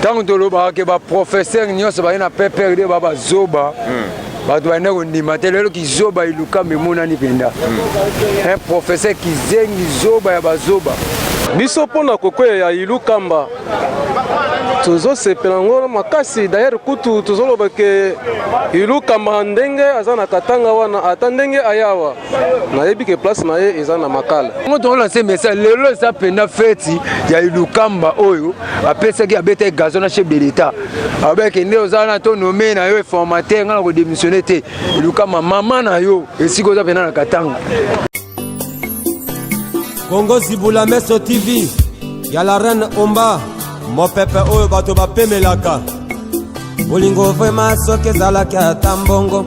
ntango tolobaka ke baprofesseur nyonso baye na pprd ba bazoba hmm. bato balinda kondima te lelo kizoba elukamba emonani mpenza hmm. un professeur kizengi zoba ya bazoba biso mpo na kokwea ya ilukamba tozosepela yango makasi dayere kutu tozoloba ke ilukamba ndenge aza na katanga wana ata ndenge ayawa nayebi ke place na ye eza na makala ngo tokola se message lelo eza mpenza feti ya ilukamba oyo apesaki abetaki gazo na chef de l'etat abeke nde oza wana to nome na yo informateur ngai na kodemissione te ilukamba mama na yo esika oza mpenza na katanga kongo zibula meso tv ya la reine omba mopepe oyo bato bapemelaka bolingo vrema soki ezalaki ata mbongo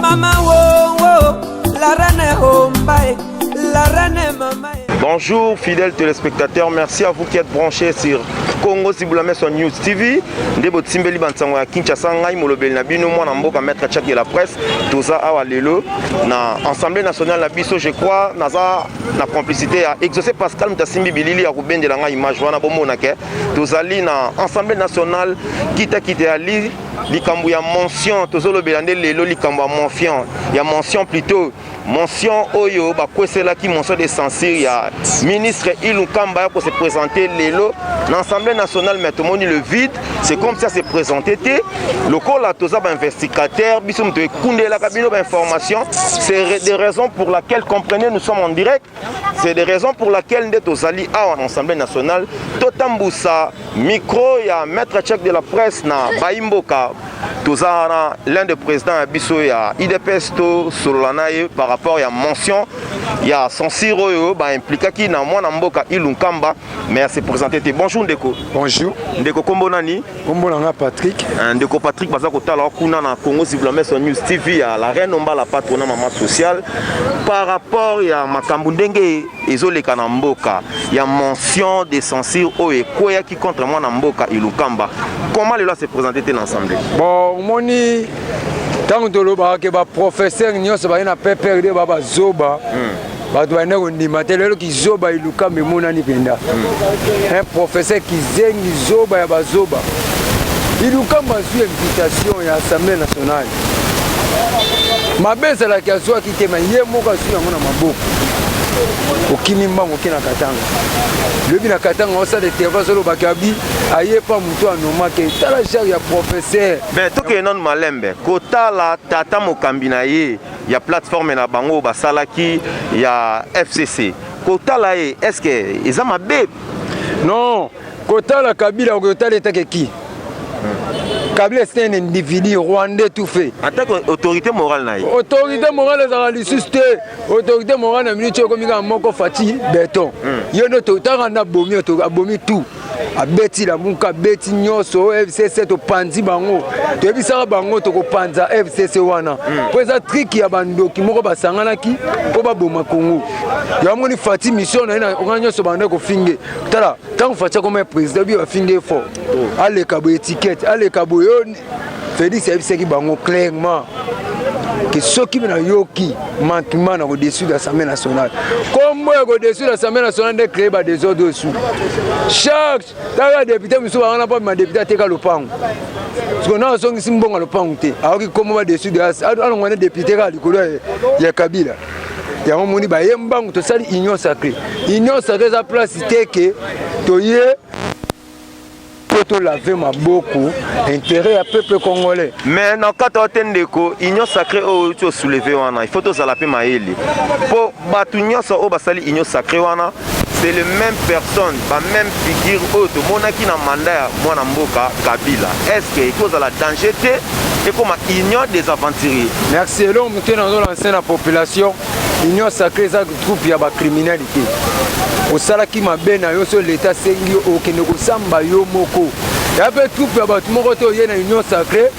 Mama wo wo la reine hombae la reine mama Bonjour fidèles téléspectateurs, merci à vous qui êtes branchés sur Congo Sibulameso News TV. Nde botimbeli bansango ya Kinshasa ngai molobeli na bino mwana mboka maître Tchak de la presse toza awa lelo na Assemblée nationale na biso je crois naza na complicité ya Exaucé Pascal mutasimbi bilili ya kobendela ngai image wana bomona ke tozali na Assemblée nationale kita kita ya li likambo ya mention tozolobela nde lelo likambo ya mention ya mention plutôt mention oyo bakweselaki mention de censure ya ministre ilukamba ya kose présente lelo na assemblée nationale mais tomoni le vide c'est comme ça se présente te lokola toza bainvestigateur biso moto ekundelaka bino bainformation c'est des raisons pour laquelle comprenez nous sommes en direct C'est des raisons pour laquelle nde tozali awa na Assemblée nationale totambusa micro ya maître check de la presse na Baimboka toza na l'un des présidents ya biso ya idps tosolola na ye par rapport ya mention ya censure oyo baimplikaki na mwana mboka ilu nkamba mais ase présente te bonjour ndeko bonjour ndeko nkombo nani kombo na nga patrick eh, ndeko patrick baza kotala kuna na congo ziblameso news tv ya la reine ombala patro na mama sociale par rapport ya makambo ndenge ezoleka na mboka ya mention de censure oyo ekweyaki contre mwana mboka ilukamba comment lelo ase présente te na assemblée bon omoni ntango tolobaka ke baprofesseur nyonso baye na pprd babazoba hmm. bato banda kondima te lelo kizoba elukamba emonani mpenza hmm. un professeur kizengi zoba ya bazoba ilukamba azwi invitation ya assemblée nationale mabe ezalaki azwaki te ma ye moko azwi yango na maboko okimi mbango oke na katanga lobi na katanga osala eterva azolobaki abi aye pa motu anomake tala genre ya professeur me tokende nano malembe kotala tata mokambi na ye ya plateforme na bango basalaki ya FCC kotala ye est-ce que eza mabe non kotala kabila okotala etake ki Kabila c'est un individu rwandais tout fait. En tant qu'autorité morale naïe. Autorité morale ezalaka lisusu te. Autorité morale na minute okomi kaka moko Fatih Beton. Hmm. Yo nde totaka na bomi abomi tout. abeti lamuka abeti nyonso fcc topanzi bango toyebisaka bango tokopanza fcc wana hmm. mpo eza triki ya bandoki moko basanganaki mpo baboma kongo yamoni fati mission na ye na nyonso banda kofinge tala ntango fati akoma ya président bi bafinge fort oh. aleka boye etikete aleka boye Felix ayebisaki bango clairement ke soki nayoki manquement na kodessus de l'assemblée nationale kombo ya kodessus de l'assemblée nationale nde créé ba desordre osu charge taka député mosusu bangana mpo ma député ateka lopango siko na azongisi mbongo ya lopango te ayoki kombo ba dessus de alongwa nde député kaka likolo ya kabila yango moni baye mbangu tosali union sacré union sacré eza place te ke toye mpo lave maboko intérêt ya peuple congolais mais na kata wa te ndeko union sacré oyo outi osouleve wana il faut tozala mpe mayele mpo bato nyonso oyo basali union sacré wana c'est le même personne ba même figure oyo tomonaki na manda ya mwana mboka kabila est ce que ekozala danger te ekoma union des aventuriers merci eloko moke nazolanse na population union sacré eza groupe ya bacriminali te osalaki mabe na yo so leta asengi yo okende kosamba yo moko ya mpe groupe ya bato moko te oye na union sacré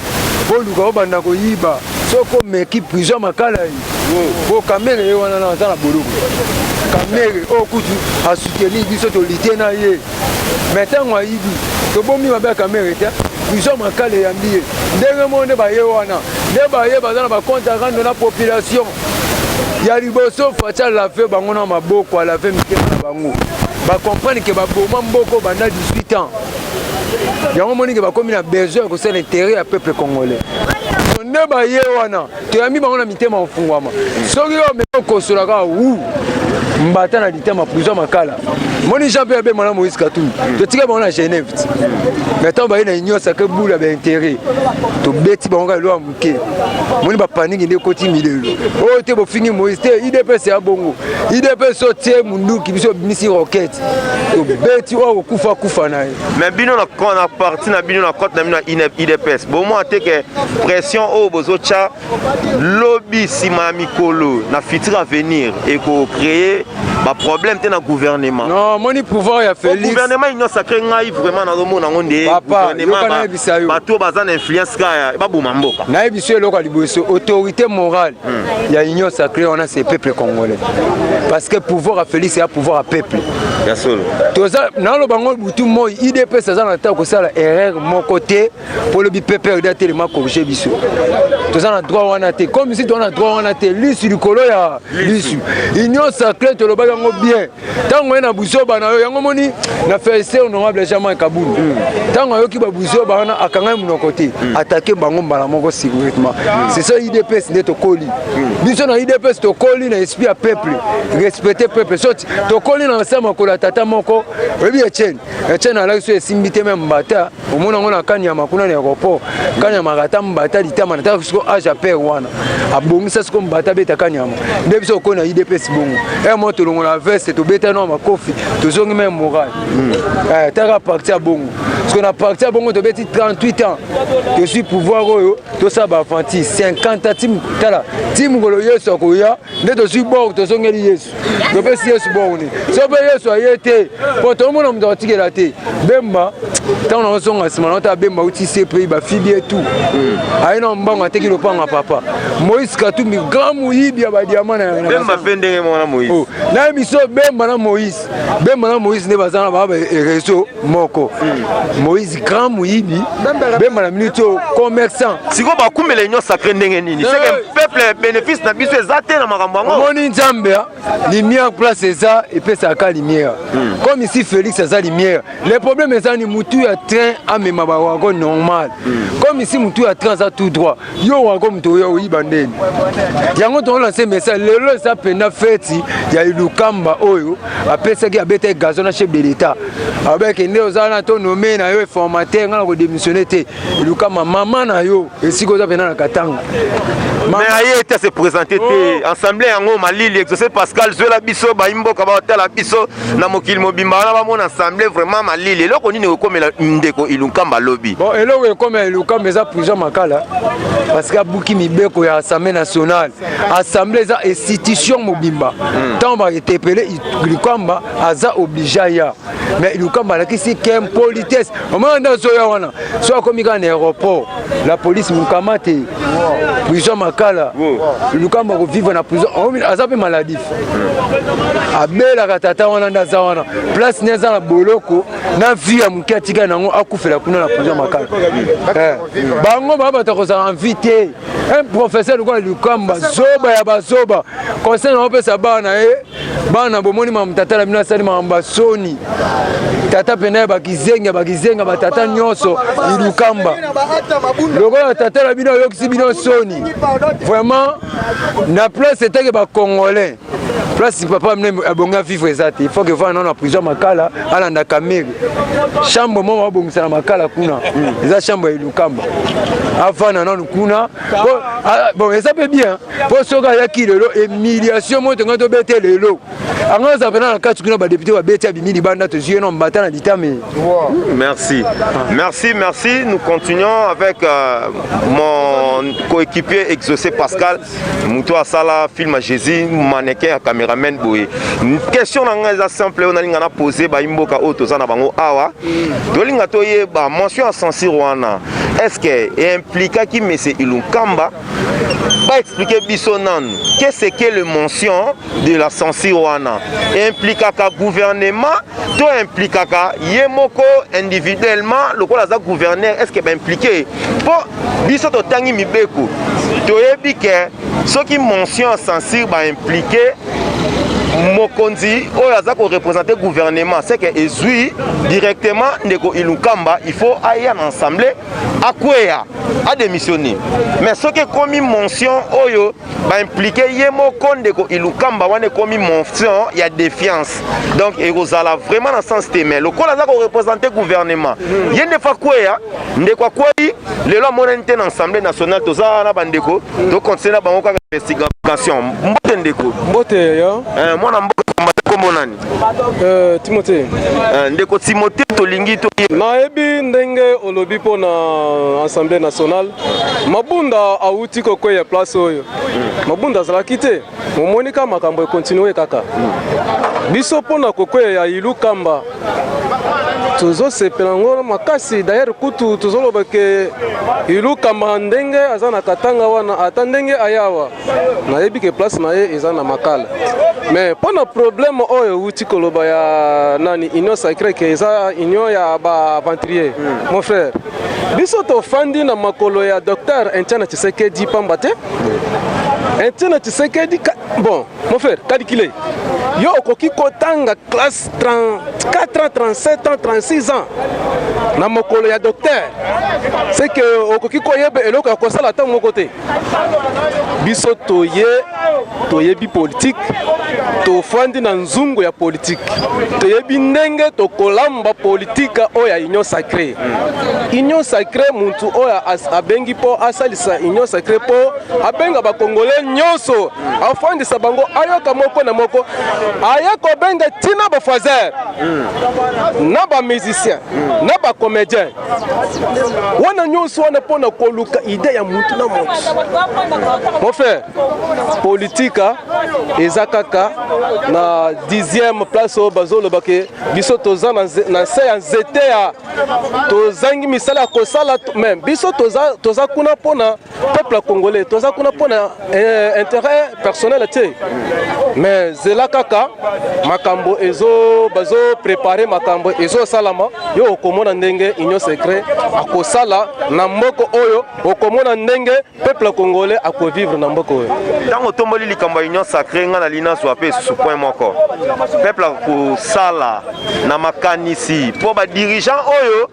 boluka obanda koyiba soko omeki prison makalai po kamere ye wana aza na boloko kamere oyo oh, kutu asuteni biso tolite na ye me ntango ayibi tobomi mabe ya kamere te biso makala eyambi ye ndenge moko nde baye wana nde baye baza na bakonte rando na population ya liboso faci alave bango na maboko alave mitema na bango bacomprendre ke baboma mboko banda 18 ans yango omoni ke bakomi na besoin ya kosala intere ya peuple congolais nde baye wana toyambi bango na mitema mafungwama soki yo omeki okosola kaka wu mbata na litema prison makala moni jean mpe abema na moïse katumbi totika bango na genève ti mai ntango baye na union sacre boule ya baintérêt tobeti bango kaka elo ya moke moni bapaniki nde ekoti milelo oyo oh, te bofingi moïse te idps ya bongo idps otie munduki biso obimisi roquette tobeti oyo oh, kokufa kufa na ye mais bino na parti na bino na cote na bino ya idps bomona te ke pression oyo bozotya lobi nsima ya mikolo na futur avenir ekocreye baproblème te na gouvernement non moni pouvoir ya félix gouvernement union sacré ngai vraiment nazomona yango nde bato oyo baza na influence kaya baboma mboka nayebi so eloko ya liboso autorité morale hmm. ya union sacré wana c'est peuple congolais parce que pouvoir ya félix ya pouvoir ya peuple ya solo toza naloba ngo butu moi idps aza na ntango kosala erreur moko te mpo lobi pprd atelema corrige biso toza na droit wana te comme si toza na droit wana te lisu likolo ya lisu union sacré tolobaki yango bien ntango ye na buzoba na yo yango moni na felicite honorable germain kabulu ntango ayoki babuzoba wana akangai monoko te hmm. atake bango mbala moko secretement hmm. c'est ça idps nde tokoli hmm. biso na idps tokoli na esprit ya peuple respecte peuple tokoli na nse makolo ya tata moko oyebi etienne etienne alaki so esimbi te me mbata omona yango na kani ya makuna na aéroport kani ya makata mbata litama na taka siko age ya pere wana abongisa siko mbata abeta kani yango nde biso okoi na idps bongo e mo tolongola veste tobeta nao makofi tozongi meme moral hmm. eh, taka parti ya bongo siko na parti ya bongo tobeti 38 ans tosui pouvoir oyo tosala bafanti 50 tim tala ti mokolo yesu akoya nde tozwi bor tozongeli yesu topesi yesu boni so mpe yesu aye te mpo tomona moto akotikela te bemba ntango nakozonga nsima naota bemba uti se mpe bafidi etu hmm. aye na mbango ateki lopanga papa moïse katumbi grand moyibi ya badiama nabemba mpe ndenge moko na moïse oh, na emission bemba na moïse bemba na moïse nde baza na baa réseau moko moïse grand moyibi bemba na minute oyo commerçant sikoyo bakumela union sacré ndenge nini eh. seke peuple bénéfice na biso eza te na makambo yango omoni nzambe ah, lumière place eza epesaka lumière hmm. comme ici félix aza lumière le problème eza ni motu ya train amema bawago normal hmm. comme ici motu ya train aza tout droit yo wako moto oyo oyiba ndeni yango tokolanse message lelo eza mpenda feti ya ilukamba oyo apesaki abetaki gazo na chef de l'etat abeke nde oza wana to nome na yo informateur ngai na kodemissione te ilukamba mama na yo esika oza mpenda na katanga mais aye te se présente te oh. ensemble yango malili exauce pascal zwela biso baimboka batala biso na mokili mobimba wana bamona ensemble vraiment malili eloko nini ekokomela ndeko ilunkamba lobi bon eloko ekomela ilunkamba eza prison makala parce que abuki mibeko ya assemblée nationale assemblée eza institution mobimba ntango hmm. baetepele ilunkamba aza oblige aya mais ilunkamba alakisi ke politesse omona nde azoya wana so akomi kaka na aéroport la police mukamate prison makala lukamba koviva na prison oh, aza mpe maladif abelaka tata wana nde aza wana place ne aza na boloko na vie ya moke atika nango akufela kuna na prison makala eh. bango baa bato akozala envi te un professeur lokola lukamba zoba ya bazoba conseil na opesa bana ye bana bomoni makambo tata na bino asali makambo ya soni tata mpena ya bakizengi ya bakizenga batata nyonso ilukamba lokola tata na bino ayokisi bino soni vraiment na place etake bacongolais place papa mne abongi avivre eza te ifaut ke vana nano na prison makala alanda kamere chambre moko abongisa na makala kuna eza chambre ya ilukamba avana nano kuna bon eza mpe bien mpo soki ayaki lelo emiliation moto ngai tobete lelo anga aza mpena na kati kuna badepute babeti abimi libanda tozwi ye na mbata na litame merci merci merci nous continuons avec euh, mon coéquipier exaucé pascal moto asala film ya jésus manequin ya cameraman boye question na ngai eza simple oyo nalinga na pose bayimboka oyo toza na bango awa tolinga toyeba mention ya censure wana est ce que implikaki monsieur ilunkamba expliquer biso nanu qu'est ce que le mention de la censure wana implikaka gouvernement to implikaka ye moko individuellement lokola aza gouverneur est ce que baimplike mpo biso totangi mibeko toyebi ke soki mention ya censure baimplike mokonzi oyo aza korepresente gouvernement seke ezwi directement ndeko ilunkamba il faut aya na assemblée akweya ademissione mais soki ekomi mention oyo baimplike ye moko ndeko ilukamba wana ekomi mention ya défiance donc ekozala vraiment na sens te mais lokola aza korepresente gouvernement mhm. ye ndefa akweya ndeko akwei lelo amonani te na assemblée nationale toza wana na bandeko mhm. tokontinue na bango kaka investigation mbote ndeko mbote yo eh, mwana mbote kombo nani Euh, Timothée. Euh, ndeko Timothée tolingi to nayebi ndenge olobi mpo na assemblée nationale mabunda awuti kokweya place oyo mabunda azalaki te momoni ka makambo ekontinue kaka biso mpo na kokweya ya ilu kamba tozosepela yango makasi dayere kutu tozoloba ke ilukamba ndenge aza na katanga wana ata ndenge ayawa nayebi ke place na ye eza na makala mais mpo na problème oyo euti koloba ya nani union sacré ke eza union ya baaventurier hmm. mon frère biso tofandi na makolo ya docteur entiana tshisekedi pamba te entiana tshisekedi bon mon frère calcule yo okoki kotanga classe 34 ans 37 ans 36 ans na mokolo ya docteur seke okoki koyeba eloko ya kosala ntango moko te biso toye toyebi politiki tofandi na nzungu ya politiki toyebi ndenge tokolamba politiki oyo ya union sacré union sacré muntu oyo abengi mpo asalisa union sacré mpo abenga bakongole nyonso afandisa bango ayoka moko na moko aya kobenga ntina bafoiser na bamusicien na bacomédien wana nyonso wana mpo na koluka ide ya motu na motu mon frère politika ah, eza kaka na dixième place oyo bazoloba ke biso toza na nse ya nzete ya tozangi misala ya kosala me biso toza, toza kuna mpo na peuple congolais toza kuna mpo na eh, intérêt personnel te mais zela kaka makambo ezo bazo prépare makambo ezosalama yo okomona ndenge union secret akosala na mboka oyo okomona ndenge peuple congolais akovivre na mboka oyo ntango otomboli likambo ya union sacré ngai nali nazwa mpe esusu point moko peuple akosala na makanisi mpo badirigeant oyo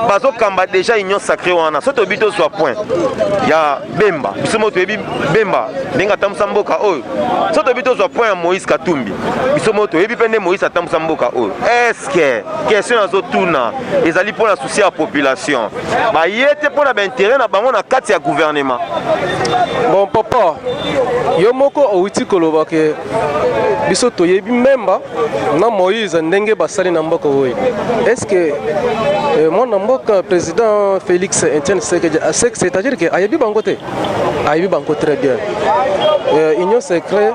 bazo kamba déjà union sacrée wana soki toyebi tozwa point ya bemba biso moko toyebi bemba ndenge atambusa mboka oyo soki toyebi tozwa point ya moïse katumbi biso moko toyebi mpe nde moïse atambusa mboka oyo estce question nazotuna ezali mpo na souci ya population baye te mpo na baintérêt na bango na kati ya gouvernement bon papa yo moko owiti koloba ke biso toyebi mbemba na moïse ndenge basali na mboka oyo est ce que euh, mwana mboka président félix etienne sekedi ah, c'est à dire que ayebi bango te ayebi bango très bien euh, union secret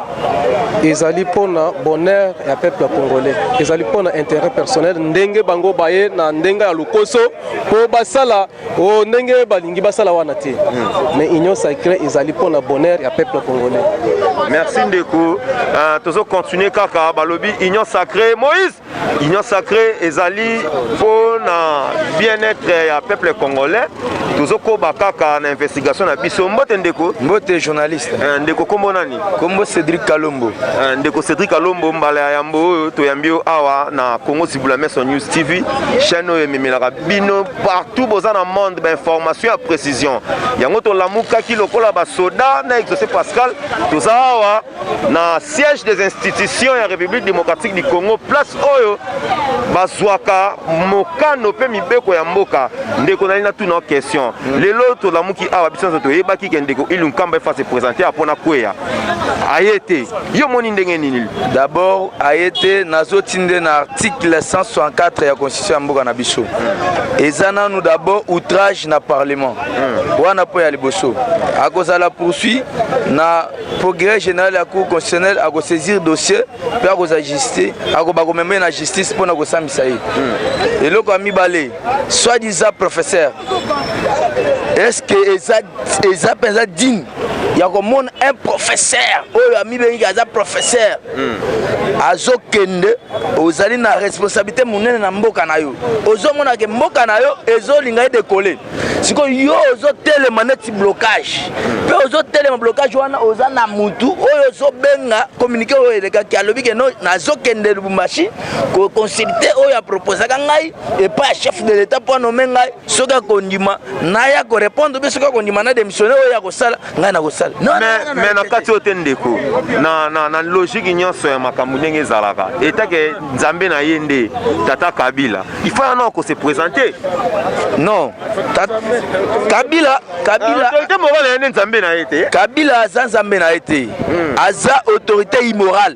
ezali mpona bonheur ya peuple congolais ezali mpona intérêt personnel ndenge bango baye na ndenge ya lokoso mpo basala Oh, ndenge balingi basala wana te hmm. mais union sacrée ezali mpo na bonheur ya peuple congolais merci ndeko uh, tozo continuer kaka balobi union sacrée moïse union sacrée ezali mpo na bien-être ya peuple congolais tozokoba kaka na investigation na biso mbote ndeko mbote journaliste uh, ndeko kombo nani kombo cédric kalombo uh, ndeko cédric kalombo mbala ya yambo oyo toyambi yo awa na congo sibula maison news tv chaîne oyo ememelaka bino partout boza na monde bainformation ya précision yango tolamukaki lokola basoda na exaucé pascal toza awa na siège des institutions ya république démocratique du congo place oyo bazwaka mokano mpe mibeko ya mboka ndeko nali natuna question lelo tolamuki awa biso nyonso toyebaki ke ndeko ilu nkamba efa se présente apo na kweya aye te yo omoni ndenge nini d'abord aye te nazoti nde na article 164 ya constitution ya mboka na biso eza nanu d'abord outrage na parlement hmm. wana mpo ya liboso akozala poursuit na progrès général ya cour constitutionnelle akosaisir dossier mpe akozala justice akoba komema ye na justice mpo na kosambisa ye hmm. eloko ya mibale soit disant professeur est ce que eza, eza mpenza digne ya komona un professeur oyo amibengiki aza professeur azokende ozali na responsabilité monene na mboka na yo ozomona ke mboka na yo ezolinga ye dekole sikoyo yo ozotelema neti blocage mpe ozotelema blocage wana oza na mutu oyo ozobenga communiqué oyo elekaki alobi ke no nazokende lubumbashi koconsulte oyo aproposaka ngai epai ya chef de l'état mpo anome ngai soki akondima naya korepondre mpe soki akondima na démissionne oyo akosala ngai nakosala mais na kati oyo te ndeko na, na, na logike nyonso ya makambo ndenge ezalaka etake nzambe na ye nde tata kabila ifo yana akose présente non kabila kabila autorité morale ya nde nzambe na ye te kabila aza nzambe na ye te hmm. aza autorité immorale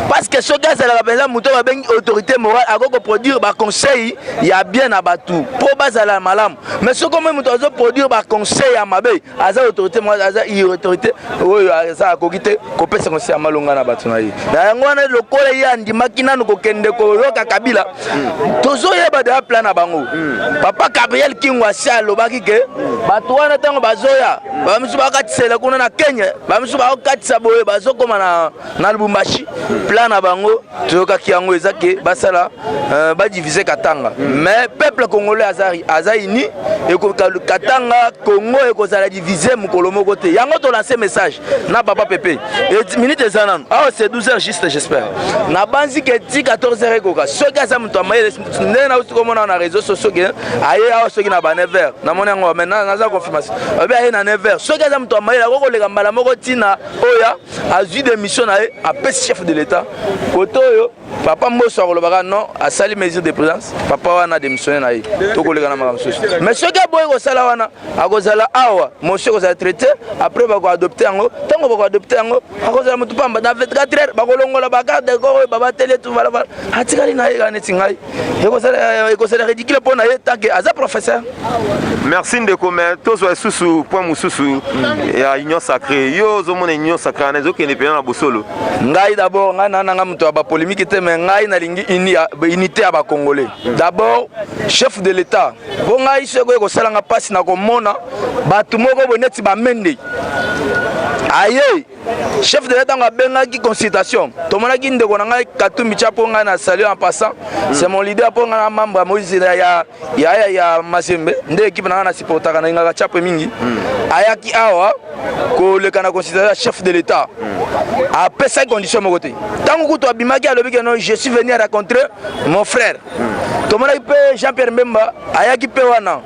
parce que soki azalaka mpenza moto babengi autorité morale akoki koproduire baconseil ya bien na bato mpo bazala malamu mais soki omoi moto azoproduire baconseil ya mabe aza autorité mwa aza autorité oyo aza akoki te kopesa konse ya malonga na bato na ye na yango wana lokola ye andimaki nanu kokende koyoka kabila hmm. tozoyeba deya plan na bango hmm. papa gabriel kingo asi alobaki ke bato wana ntango bazoya bamisusu bakatisela kuna na kenya bamisusu bakokatisa boye bazokoma na na lubumbashi plan na bango toyokaki yango eza ke basala euh, badivise katanga mais peuple congolais aza, aza uni katanga congo ekozala divise mokolo moko te yango tolanse message na papa pepe minute eza nano awa ah, se 12 heures juste j'espère nabanzi ke ti 14 heures ekoka soki aza moto ya mayele nde nauti komona na réseau socio ke aye awa soki na ba 9 heures namoni yango mais naza confirmation obe aye na 9 heures soki aza moto ya mayele akokoleka mbala moko ntina oya azwi demission na ye apesi chef de l'etat kote oyo papa mboso akolobaka non asali mesure de présence papa wana demissionne na ye tokoleka na makambo mosusu mais soki aboyi kosala wana akozala awa mosu ekozala traité après bakoadopte yango ntango bakoadopte yango akozala motu pamba na 24 heure bakolongola bagarde corps oyo babateli etu valabala atikali na ye kaka neti ngai ekozala euh, ridicule mpo na ye tanke aza professeur merci ndeko me tozwa lisusu point mosusu mm. ya union sacré yo ozomona union sacré wana ezokende mpena na bosolo ngai d'abord ngai nana ngai moto ya bapolémike te me ngai nalingi unité ya bacongolais mm. d'abord chef de l'état mpo ngai soki oye kosalanga mpasi na komona bato moko boye neti bamende aye chef de l'etat benga ki consultation tomonaki ndeko na ngai katumbi tya mpo ngai na salut en passant mm. c'est mon leader mpo ngai na membre ya moïse ya, ya, ya, ya mazembe nde ekipe na ngai na supportaka na ingaka tyape mingi mm. ayaki awa koleka na consultation ya chef de l'etat mm. apesaki condition moko te ntango kutu abimaki alobiki no je suis venu à rencontrer mon frère tomonaki mpe jean pierre mbemba ayaki mpe wana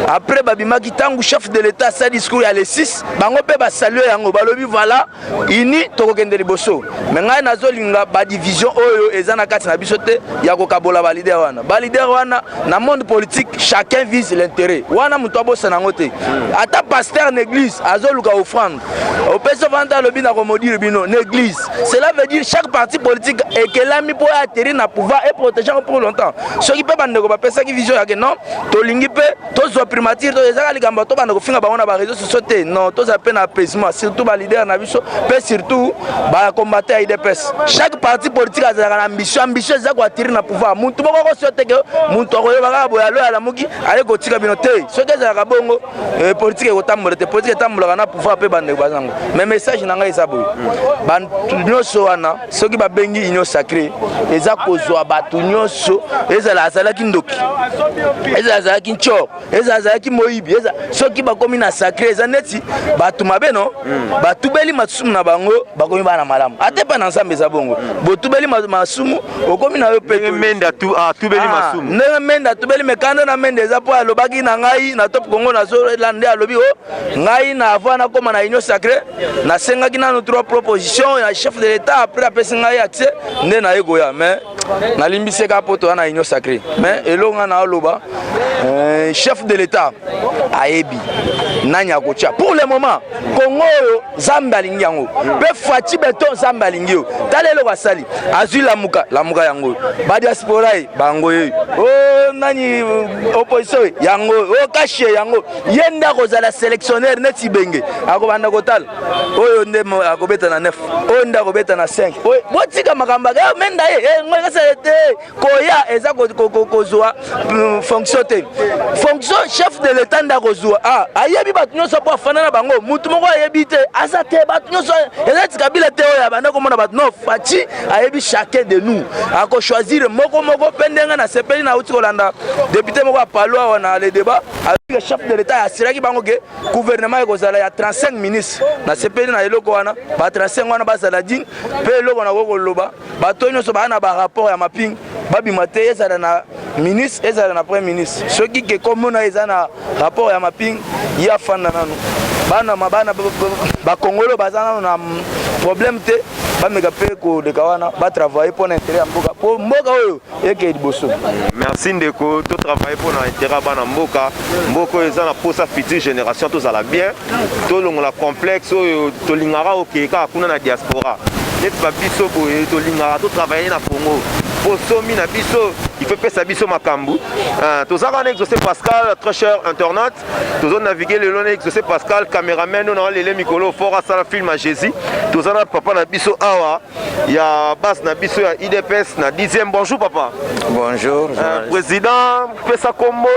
après babimaki ntango chef de l'état asali discours ya le 6 bango mpe basalue yango balobi voilà ini tokokende liboso me ngai nazolinga badivision oyo eza na kati na biso te ya kokabola balider wana balider wana na monde politique chacun vise l'intérêt wana moto abosana yango te ata pasteur na église azoluka offrande opesi ovanda alobi na komodire bino na église cela veut dire chaque parti politique ekelami mpo aterrir na pouvoir et protéger yango pour longtemps soki mpe bandeko bapesaki vision yake non tolingi mpe tozwa primature to ezaka likambo to banda kofinga bango na bareseau sociaux te non tozala mpe na apaisement surtout balider na biso mpe surtout bacombatant ya idps chaque parti politique azalaka na ambition ambition eza koatterrir na pouvoir motu moko akosio teke motu akoyeba kaka boye alo alamuki aye kotika bino te soki ezalaka bongo Eh, politike ekotambola te politike etambolaka na pouvoir mpe bandeko baza yango mais message na ngai eza boye bato nyonso wana soki babengi union sacré eza kozwa bato nyonso ezala azalaki ndoki ezala azalaki ncor ezala azalaki moyibi soki bakomi na sacré eza neti bato mabe no hmm. batubeli masumu na bango bakomi bana malamu ata epai na nzambe eza bongo botubeli masumu okomi na yo ndenge mende atubeli ah, masumu ndenge mende atubeli mekanda na mende eza mpo alobaki na ngai na top congo nazolela nde alobi o oh, ngai na avant nakóma na union sacré nasengaki nanu trois proposition ya chef de l'état après apesi ngai accès nde naye koya mais nalimbiseka mpo toya na union sacré mais eloko ngai naoloba euh, chef de l'état ayebi nani akotya pour le moment congo oyo zambe alingi yango mpe faci beton zambe alingi yo tala eloko asali azwi lamuka lamuka yango badiaspora ye bango ye o oh, nani opposition ye yango o oh, kashi ye yango ye nde akozala selectionnaire neti benge akobanda kotala oyo nde akobeta na 9 oyo nde akobeta na 5 botika makambo aka menda ye eh, ngai kasala te koya eza kozwa mm, fonction te fonction chef de l'etat nde akozwa ah, ayebi bato nyonso mpo afanda na bango motu moko ayebi te aza te bato nyonso eza tikabila te oyo abanda komona bato no faci ayebi chacun de nous akochoisir moko moko mpe ndenge nasepeli nauti kolanda depute moko ya palo awa na le débat alobike chef de l'etat asiraki bango ke gouvernement ekozala ya 35 ministre nasepeli na eloko wana ba 35 wana bazala digne mpe eloko nakoki koloba bato oyo nyonso baa na barapport ya maping babima te ezala na ministre ezala na premier ministre soki ke komona eza na rapport ya maping ye afanda nano bana mabana bakongolo baza nano na problème te bameka mpe koleka wana batravaille mpo na intere ya mboka mpo mboka oyo eke liboso merci ndeko to travaille mpo na intérêt bana mboka mboka oyo eza na mposa future génération tozala bien tolongola complexe oyo tolingaka okeye kaka kuna na diaspora neti babiso boye tolingaka totravaille na congo mpo somi na biso ife epesa biso makambo ah, toza wana exaucé pascal très cher internet tozo navigue lelo na exaucé pascal cameraman oyo na walele mikolo fort asala film ya jésus toza na papa na biso awa ya base na biso ya idps na 10e bonjour papa bonjour euh, président pesa kombo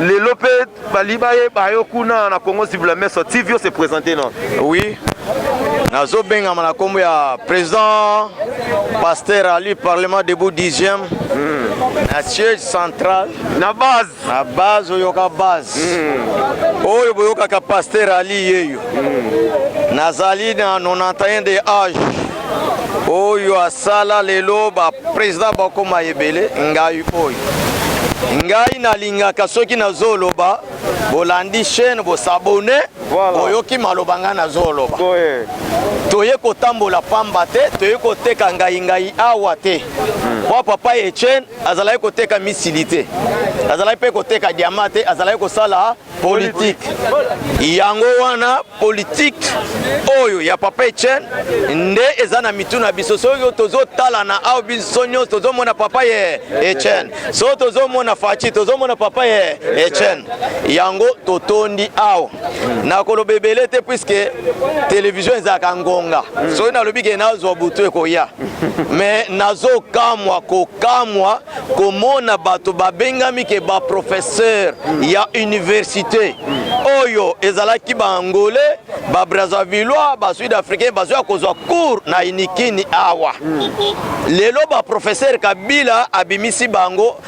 lelo mpe bali bayeba yo kuna na congo zibula meso tv ose présente non oui nazobengama na kombo ya président pasteur ali parlement debout 10e mm. na siège central na base na base oyoka base mm. oyo boyokaka paster ali yeyo mm. nazali na 91 de age oyo asala lelo bapresident bakoma ebele ngai oyo ngai nalingaka soki nazoloba bolandi chaîne bosabone voilà. oyoki maloba ngai nazoloba toye kotambola pamba te toye koteka ngai ngai awa te mm. papa etienne azalaki koteka misili te azalaki mpe koteka diama te azalaki kosala politike yango wana politike oyo ya papa etienne nde eza na mitu na biso soki tozotala na awa biso nyonso tozomona papa ye etienne soki tozomona faci tozomona papa ye etienne yango totondi awa nakoloba ebele te puiske televizio ezalaka ngonga soki nalobi ke nazwa butu ekoya me nazokamwa kokamwa komona bato babengami ke baprofesseur ya université oyo ezalaki baangolais babrazavillois basud africain bazoya kozwa cour na inikini awa lelo baprofesseur kabila abimisi bango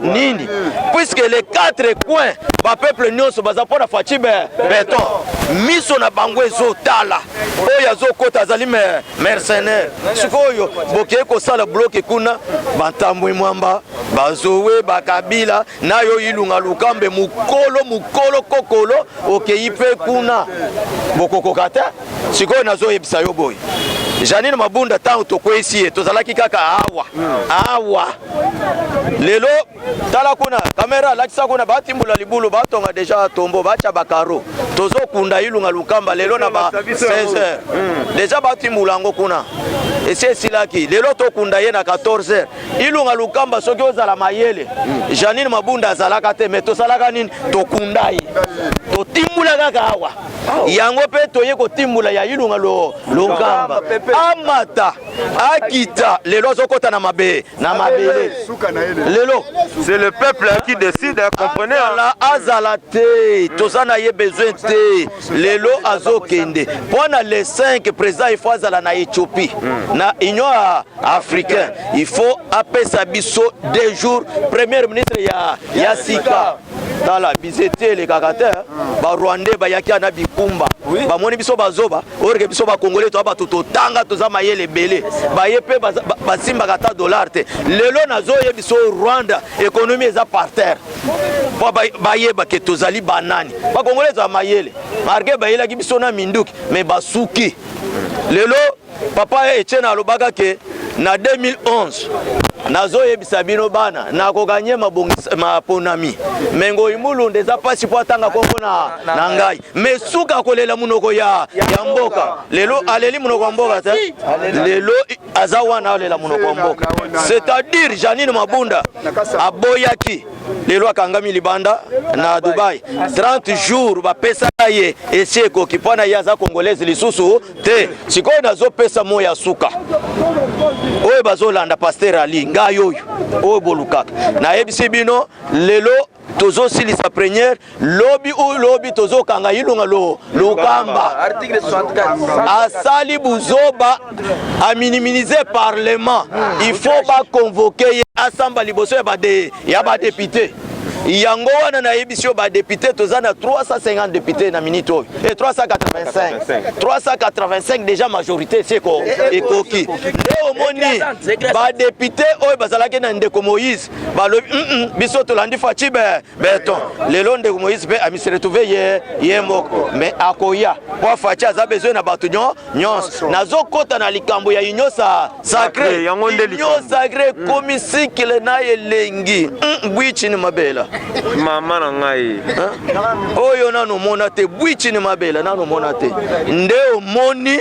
nini puisque les quatre coins bapeuple nyonso baza mpo na faci beton miso na bango ezotala oyo azokota azali mercenaire sikoyo bokei kosala bloke kuna bantambwe mwamba bazowe bakabila nayo ilunga lukambe mokolo mokolo kokolo okei mpe kuna bokokoka te sikoyo nazoyebisa yo boye janine mabunda ntango tokweyisi ye tozalaki kaka awa awa lelo tala kuna kamera alakisa kuna batimbola libulu batonga deja tombo batya bakaro tozokunda ilunga lukamba lelo na ba 16 heures hmm. deja batimbola yango kuna esi esilaki lelo tokunda ye na 14 heures ilunga lukamba soki ozala mayele hmm. janine mabunda azalaka te mais tosalaka nini tokunda ye totimbola kaka awa yango mpe toye kotimbola ya ilunga lokamba amata akita lelo azokota na mabe na mabele lelo c'est le peuple qui décide comprenez azala, azala te toza na ye besoin te lelo azokende mpo na le 5 président il faut azala na éthiopie mm. na union africain il faut apesa biso deux jours premier ministre ya, ya sika tala bizete elekaka te barwandais bayaki ana bikumba bamoni biso bazoba orke biso bakongole toa bato totanga toza mayele ebele baye mpe basimbaka ata dollar te lelo nazoye biso rwanda ekonomi eza par terre mpo bayeba ke tozali banani bakongole eza mayele marke bayelaki biso na minduki me basuki lelo papa etienne alobaka ke na 2011 nazoyebisa bino bana nakokanye maponami me ngoi mulunda eza mpasi mpo atanga nkombo na, na ngai me suka kolela monoko ya, ya mboka lelo aleli monoko ya mboka te lelo aza wana alela monoko ya mboka c'est-à-dire janine mabunda aboyaki lelo akangami libanda na dubai 30 jours bapesa ye esi ekoki mpo na ye aza congolaise lisusu te sikoyo nazopesa moi ya suka oyo bazolanda paster ali ngai oyo oyo bolukaka nayebisi bino lelo tozosilisa première lobi oyo lobi tozokanga ilunga lo lokamba asali buzoba aminimize parlement il faut bakonvoke ye asamba liboso ya badeye ya ba député yango wana nayebisi yo badepute toza na 350 depute na minute oyo e 385 385 deja majorité si ekoki nde omoni badepute oyo bazalaki na ndeko moïse balobi mm -mm, biso tolandi faci be beton lelo ndeko moïse mpe amiseretrouve ye ye moko mais akoya mpo faci aza besoin na bato nyonso nazokɔta na likambo ya union sa sacre yango nde likambo sacre mm. komi sikile na elengi mm, bwichini mabela mama na ngai oyo nanu mona te bwichini mabela nanu mona te nde omoni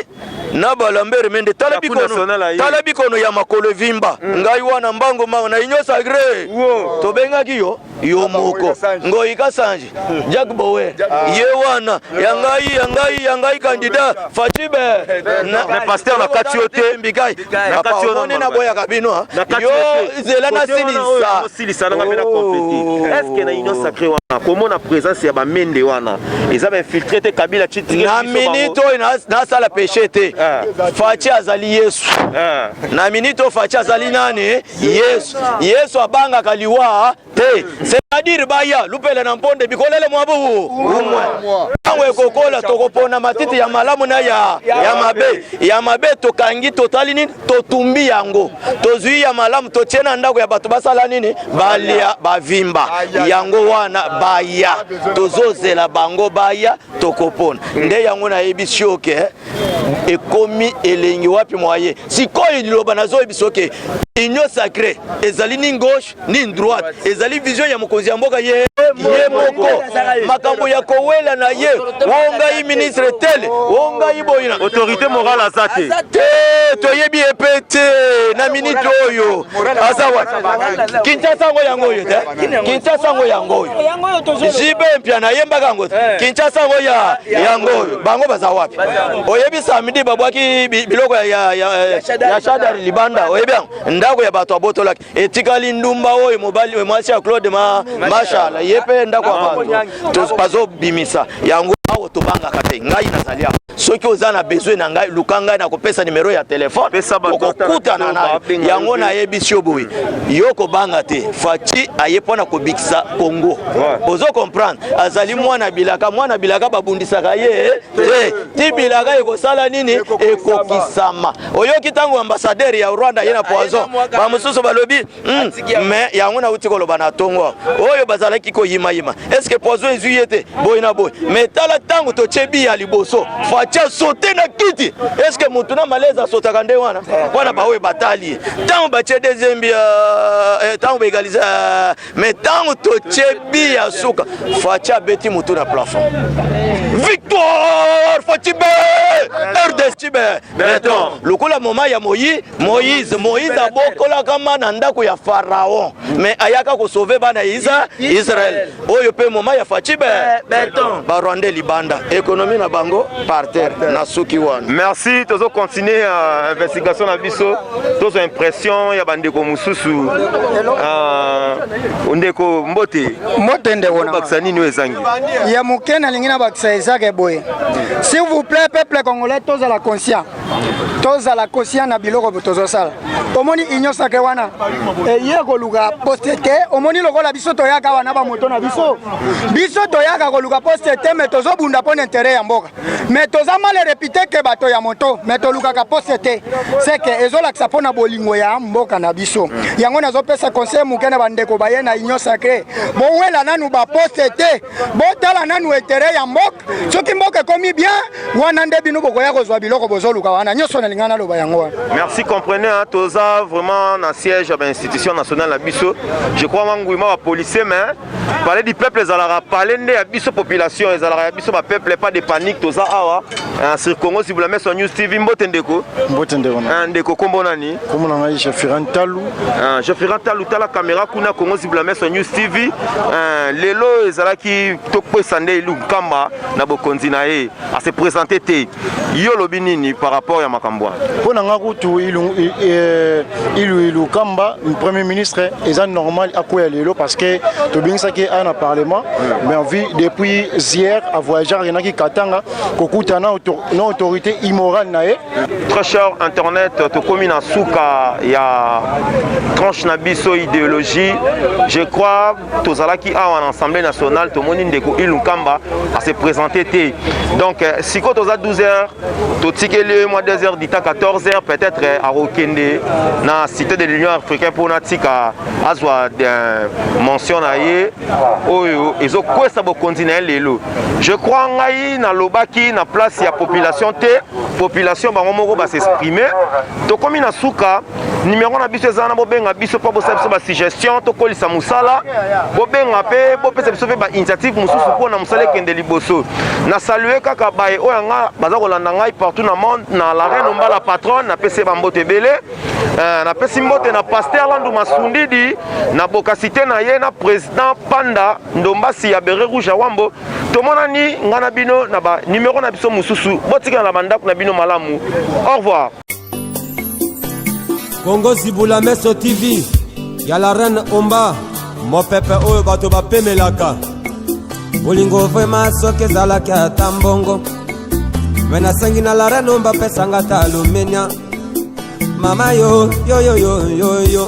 na balambere mende tala bikono tala bikono ya makolo evimba mm. ngai wana mbango mbango na union sacre tobengaki yo yo moko ngoyi kasanji jack bower ye wana ya ngai ya ngai ya ngai kandida facibe pasteur nakati yo te mbikai omoni naboyaka bino ah. yo zela nasilisa komona présence ya bamende wana eza bainfiltre te kabila na minute oyo nasala peche te ah. faci azali yesu ah. na minute oyo faci azali nani yesu yesu abangaka liwa te c'est-à-dire baya lupela na mponde bikolele mwa bubu umwe ntango ekokola tokopona matiti ya malamu na ya, ya mabe ya mabe tokangi totali nini totumbi yango tozwi ya malamu totie na ndako ya bato basala nini balia bavimba yango wana baya tozozela bango baya tokopona nde yango nayebi sioke ekomi elengi wapi mwaye sikoyo liloba nazoyebisa oke union sacré ezali ni gauche ni droite ezali vision ya mokonzi ya mboka ye ye moko makambo ya kowela na ye o ngai ministre tele o ngai boyina autorité morale aza te te toyebi ye mpe te na minite oyo aza wapi kinshasa yango yango oyo te Kinshasa yango yango oyo jibe mpia nayembaka yango eh. Kinshasa yango ya yango oyo bango baza wapi? Oyebi samedi babwaki biloko ya shadar libanda, oyebi yango ndako ya bato abotolaki, etikali ndumba oyo mobali mwasi ya Claude Mashala ye mpe ndako ya bato bazobimisa yango, awa tobangaka te, ngai nazali awa soki oza na besoin na ngai luka ngai nakopesa numero ya telefone okokutana nayo yango nayebisi yo boye yo kobanga te faci aye mpo na kobikisa congo ozo comprendre azali mwana bilaka mwana bilaka babundisaka ye eh, eh, ti bilaka ekosala nini ekokisama oyoki ntango ambasadere ya rwanda ye na poison bamosusu balobi Hmm, mais yango nauti koloba na tongo oyo bazalaki koyimayima estce poison ezwi ye te boye na boye mais tala ntango totie bi ya liboso facia sote na kiti estce motu na malaise asotaka nde wana wana baoyo batali ye ntango batie deuxième bi ntango euh, eh, baegalise euh, mais ntango totie bi ya suka facia abeti motu na plafond victoire facibe rdestibe beton lokola moma ya moyi Moïse, Moïse abokolaka ma na ndako ya Pharaon, mais ayaka ko sauver bana Isa Israël. Oyo pe moma ya Fatshi be beton. Ba Rwandais libanda, économie na bango par terre na suki wana. Merci, tozo continuer uh, investigation na biso. Tozo impression ya bandeko mususu. Ah, uh, ndeko mbote. Mbote ndeko na. Bakisa nini ezangi? Ya mukena lingi na bakisa ezaka boye. S'il vous plaît, peuple congolais, tozo la conscient. tozala conscient na biloko tozosala omoni union sacre wana eye koluka poste te omoni lokola biso toyaka wana bamoto na biso biso toyaka koluka poste te me tozobunda mpo na intere ya mboka me toza male repite ke bato ya moto me tolukaka poste te seke ezolakisa mpo na bolingo ya mboka na biso yango nazopesa conseil moke na bandeko baye na union sacre bowela nanu baposte te botala nanu etere ya mboka soki mboka ekomi bien wana nde bino bokoya kozwa biloko bozoluka wana nyonso nalinga naloba yango wana merci compreneur toza vraiment na siège ya bainstitution nationale na biso je crois manguima bapolicier mais palais du peuple ezalaka palais nde ya biso population ezalaka ya biso bapeuple pas de panique toza awa sur congo sibula meso news tv mbote ndeko mbote ndeko ah, ndeko kombo nani Kombo na ngai Jafiran Talu. Uh, Jafiran Talu tala kamera kuna Congo Zibla Meso News TV. Uh, ah, lelo ezalaki tokopesa nde Elu Nkamba na bokonzi na ye ase presente te. Yo olobi nini par rapport ya makambo wana? Mpo na ngai kutu Ilu eh, Ilu Ilu Nkamba premier ministre eza normal akwea lelo parce que tobengisaki aya na parlement mm. mais envie depuis hier avoyageur ayenaki Katanga kokutana na autorité immorale na ye Très cher internet, tokomi na suka ya tranche na biso idéologie. Je crois tozalaki awa na Assemblée nationale tomoni ndeko Ilu Nkamba a se présenter te. Donc euh, siko toza 12 heures, totikeli ye mwa 2 heures dita 14 heures peut-être euh, akokende na cité de l'Union africaine mpo na tika azwa euh, mention na ye oyo ezokwesa bokonzi na ye lelo. Je crois ngai na lobaki na place ya population te population bango moko ba s'exprimer tokomi na suka numéro na biso eza na bobenga biso mpo bosala biso basuggestion tokolisa mosala bobenga mpe bopesa biso mpe bainitiative mosusu mpo na mosala ekende liboso na salue kaka baye oyo yanga baza kolanda ngai partout na monde na la reine ombala patronne napesi ye bambote ebele euh, napesi mbote na paster landu masundidi na bokasite na ye na président panda ndombasi ya bere rouge ya wambo tomonani ngai na bino na ba numero na biso mosusu botikala na bandako na bino malamu au revoir kongo zibula meso tv ya la reine omba mopepe oyo bato bapemelaka bolingo vrema soki ezalaki ata mbongo me nasengi na la reine omba pesanga ata alumenia mama yo yoyoyoyoyo yo, yo, yo, yo.